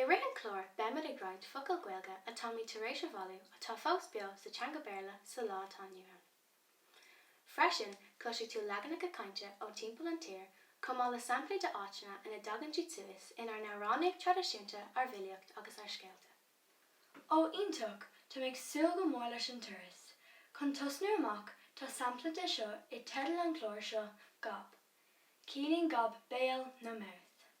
I rith an chláir beimid ag roinnt focal Gaeilge atáimid tar éis a bhailiú atá fós beo sa teanga Béarla sa lá atá inniu ann. Freisin, cloisfidh tú leaganacha cainte ó timpeall an tír chomh maith le samplaí de áiteanna ina dtagann siad suas inár n-amhránaíocht traidisiúnta, ár bhfilíocht agus ár scéalta. Ó, iontach! Táim ag súil go mór leis an turas. Chun tosnú amach, tá sampla de seo i dteideal an chláir seo, Gob. Ciallaíonn gob béal nó mouth.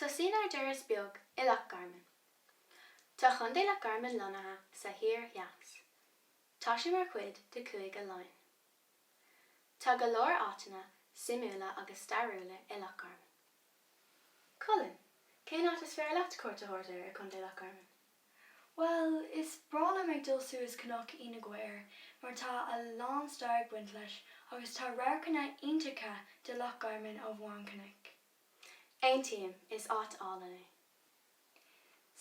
Tosaíonn ár dturas beag i Loch Garman. Tá Chontae Loch Garman lonnaithe sa thoir theas. Tá sé mar chuid de Chúige Laighean. Tá go leor áiteanna suimiúla agus stairiúla i Loch Garman. Colin, cén áit is fearr leat cuairt a thabhairt air i Contae Loch Garman? Bhuel, is breá liom ag dul suas Cnoc Fiodh na gCaor mar tá a lán stair ag baint leis agus tá radharcanna iontacha de Loch Garman ó bharr an chnoic. Aontaím, is áit álainn é.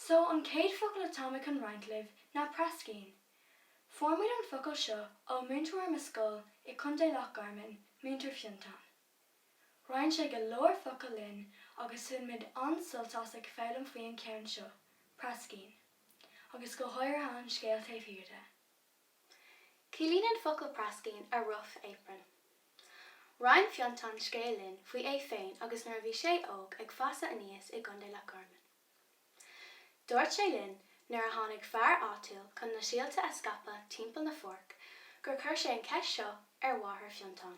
So, an chéad focal atá mé chun roinnt libh ná praiscín. Fuair muid an focal seo ó múinteoir i mo scoil i Contae Loch Garman, Múinteoir Fionntán. Roinn sé go leor focal linn agus bhain muid an-sult as ag foghlaim faoi an ceann seo, praiscín, agus go háirithe an scéal taobh thiar de. Ciallaíonn an focal praiscín 'a rough apron'. Roinn Fionntán scéal linn faoi é féin agus nuair a bhí sé óg ag fás aníos i gContae Loch Garman. Dúirt sé linn nuair a tháinig fear áitiúil chun na síolta a scaipeadh timpeall na pháirc gur chuir sé an cheist seo ar mháthair Fionntán.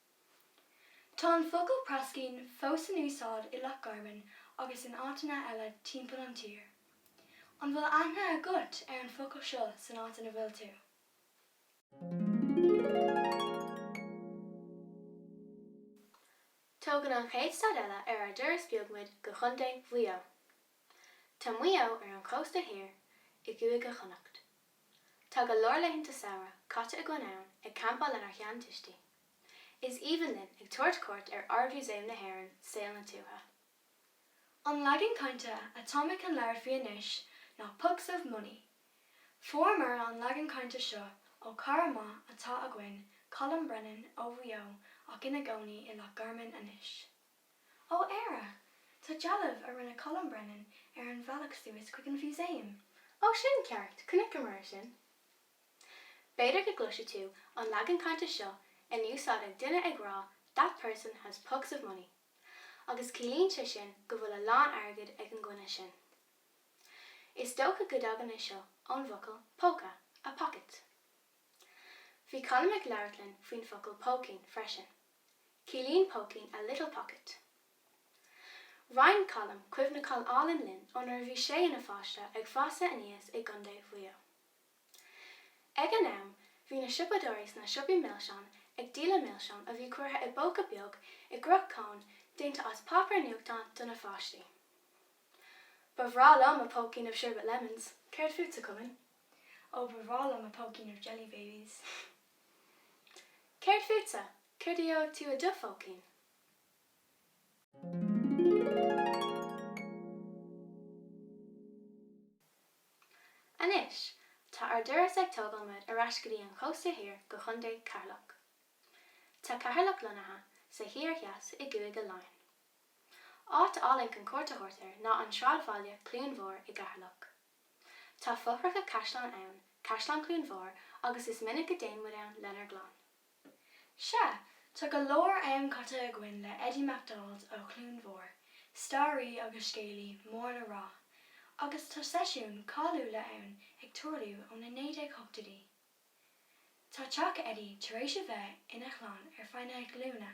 Tá an focal praiscín fós in úsáid i Loch Garman agus in áiteanna eile timpeall an tír. An bhfuil aithne agat ar an focal seo san áit ina bhfuil tú? Tógann an chéad stad eile ar ár dturas beag muid go Contae Mhaigh Eo. Tá Maigh Eo ar an chósta thiar i gCúige Chonnacht. Tá go leor laethanta samhraidh caite againn ann ag campáil lenár sheantuistí. Is aoibhinn linn ag tabhairt cuairt ar Ard-Mhúsaem na hÉireann, Saol na Tuaithe. An leagan cainte atá mé chun labhairt faoi anois ná 'pucks of money'. Fuaireamar an leagan cainte seo ó chara maith atá againn, Colm Brennan ó Mhaigh Eo ach ina gcónaí i Loch Garman anois. Ó Éire, tá dealbh a rinne Colm Brennan ar an bhealach suas chuig an Mhúsaem. Ó sin ceart, chonaiceamar é sin. B'fhéidir go gcloisfidh tú an leagan cainte seo in úsáid ag duine ag rá that person has pucks of money agus ciallaíonn sé sin go bhfuil a lán airgid ag an dhuine sin. Is dócha go dtagann é seo ón bhfocal póca, a pocket. Bhí Colm ag labhairt linn faoin bhfocal póicín freisin. Ciallaíonn póicín a little pocket. Roinn Colm cuimhneacháin álainn linn ó nuair a bhí sé ina pháiste ag fásadh aníos i gContae Mhaigh Eo. Ag an am, bhí na siopadóirí sna siopaí milseán ag díoladh milseán a bhí curtha i bpóca beag i gcruth cóin déanta as páipéar nuachtáin do na pháistí. Ba bhreá liom a póicín of sherbet lemons. Céard fútsa, Chulainn? Ó, ba bhreá liom a póicín of jelly babies. Céard fútsa? Céard a gheobhaidh tú i do phóicín? Anois, tá ár dturas ag tógáil muid ar ais go dtí an chósta thoir go Chontae Cheatharlach. Tá Ceatharlach lonnaithe sa thoir theas i gCúige Laighean. Áit álainn chun cuairt a thabhairt air ná an sráidbhaile Cluain Mhór i gCeatharlach. Tá fothracha caisleáin ann, Caisleán Cluain Mhór, agus is minic a dtéann muid ann lenár gclann. Sea, tá go leor am caite againn le Eddie MacDonald ó Chluain Mhór, staraí agus scéalaí mór le rá, agus tá seisiúin cáiliúla ann ag tarlú ó na 1980idí. Tá teach Eddie tar éis a bheith ina chlann ar feadh na glúine.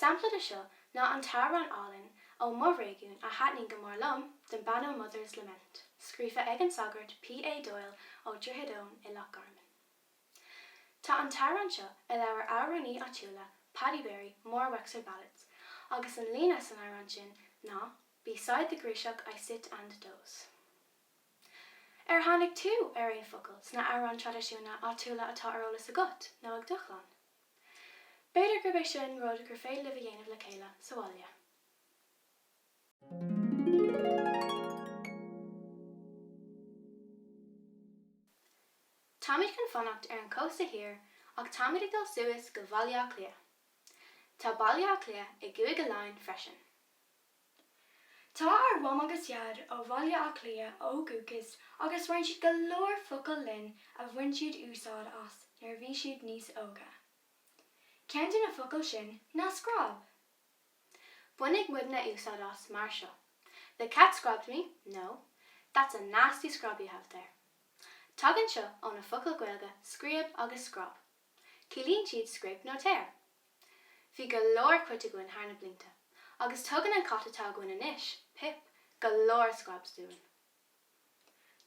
Sampla de seo ná an t-amhrán álainn ó mo réigiún a thaitnigh go mór liom, The Bannow Mother's Lament, scríofa ag an sagart P.A. Doyle ó Dhroichead Eoin i Loch Garman. Tá an t-amhrán seo i leabhar amhránaí áitiúla Paddy Berry, More Wexford Ballads, agus an líne san amhrán sin ná Beside the gríosach I sit and doze. Ar tháinig tú ar aon focal sna amhráin traidisiúna áitiúla atá ar eolas agat nó ag do chlann? B'fhéidir gurb é sin rud gur féidir libh a dhéanamh le chéile sa bhaile. Táimid chun fanacht ar an chósta thoir ach táimid ag dul suas go Bhaile Átha Cliath. Tá Baile Átha Cliath i gCúige Laighean freisin. Tá ár Mham agus Dhaid ó Bhaile Átha Cliath ó dhúchas agus roinn siad go leor focal linn a bhain siad úsáid as nuair a bhí siad níos óga. Ceann de na focail sin ná scrab. Bhainfeadh muidne úsáid as mar seo, The cat scrabbed me, nó That's a nasty scrab you have there. Tagann seo ó na focail Gaeilge scríob agus scráib. Ciallaíonn siad scrape nó tear. Bhí go leor cait againn thar na blianta, agus tugann an cat atá againn anois, Pip, go leor scrabs dúinn.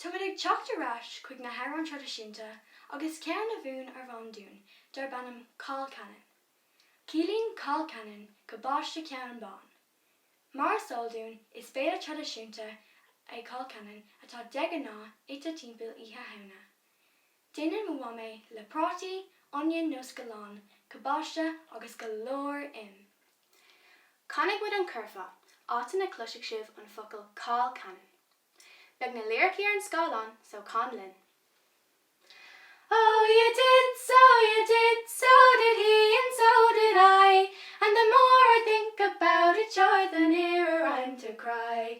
Táimid ag teacht ar ais chuig na hamhráin traidisiúnta agus ceann a mhúin ár Mham dúinn darb ainm Cál Ceannann. Ciallaíonn cál ceannann gabáiste ceannann bán. Mar is eol dúinn, is béile traidisiúnta é cál ceannann atá de ghnáth ite timpeall Oíche Shamhna. Déanann mo mham é le prátaí, oinniúin nó scalláin, cabáiste agus go leor im. Canfaidh muid an curfá, áit ina gcloisfidh sibh an focal 'colcannon' Beidh na liricí ar an scáileán so can linn. Oh, you did, so you did, so did he and so did I, And the more I think about it sure the nearer I'm to cry.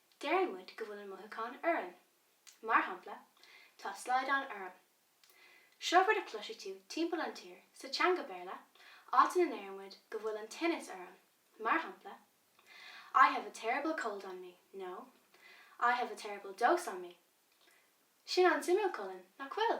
Deireann muid go bhfuil an mothúchán orainn. Mar shampla, Tá slaghdán orm. Seo rud a chloisfidh tú timpeall na tíre sa teanga Béarla, áit ina ndeireann muid go bhfuil an tinneas orainn, mar shampla, I have a terrible cold on me nó I have a terrible dose on me. Sin an-suimiúil, Colin, nach bhfuil?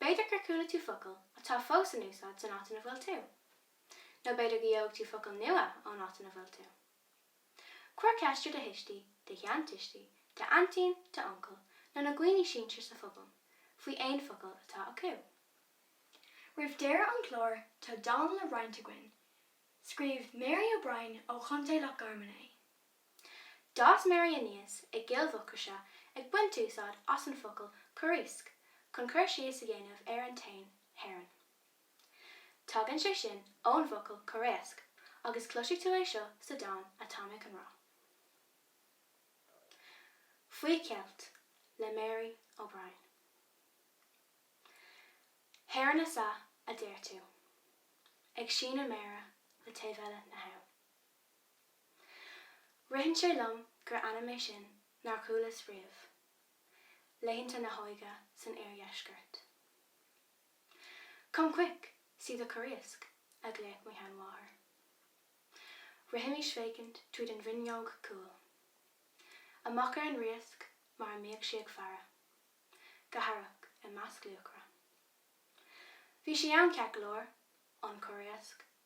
B'fhéidir gur chuala tú focail atá fós in úsáid san áit ina bhfuil tú. Nó b'fhéidir go bhfaighidh tú focail nua ón áit ina bhfuil tú. Cuir ceist ar do thuistí, do sheantuistí, d'aintín, d'uncail, nó na daoine sinsir sa phobal faoi aon focal atá acu. Roimh deireadh an chláir tá dán le roinnt againn, scríobh Mary O'Brien ó Chontae Loch Garman é. D'fhás Mary aníos i gCill Mhucraise ag baint úsáid as an focal 'corriasc' chun cur síos a dhéanamh ar an éan heron. Tagann sé sin ón bhfocal 'corréasc' agus cloisfidh tú é seo sa dán atá mé chun rá 'Faoi Cheilt' le Mary O'Brien. Heron is ea a deir tú, ag síneadh méire le taobh eile na habhann. Ritheann sé liom gur ainm é sin nár chualas riamh. Laethanta na hóige san Oir-Dheisceart. Come quick! See the corriasc! a ghlaodh mo sheanmháthair. Rithimis ag féachaint tríd an bhfuinneog chúil. Amach ar an riasc mar a mbíodh sí ag faire. Go haireach i measc luachra. Bhí sí ann ceart go leor, an corriasc,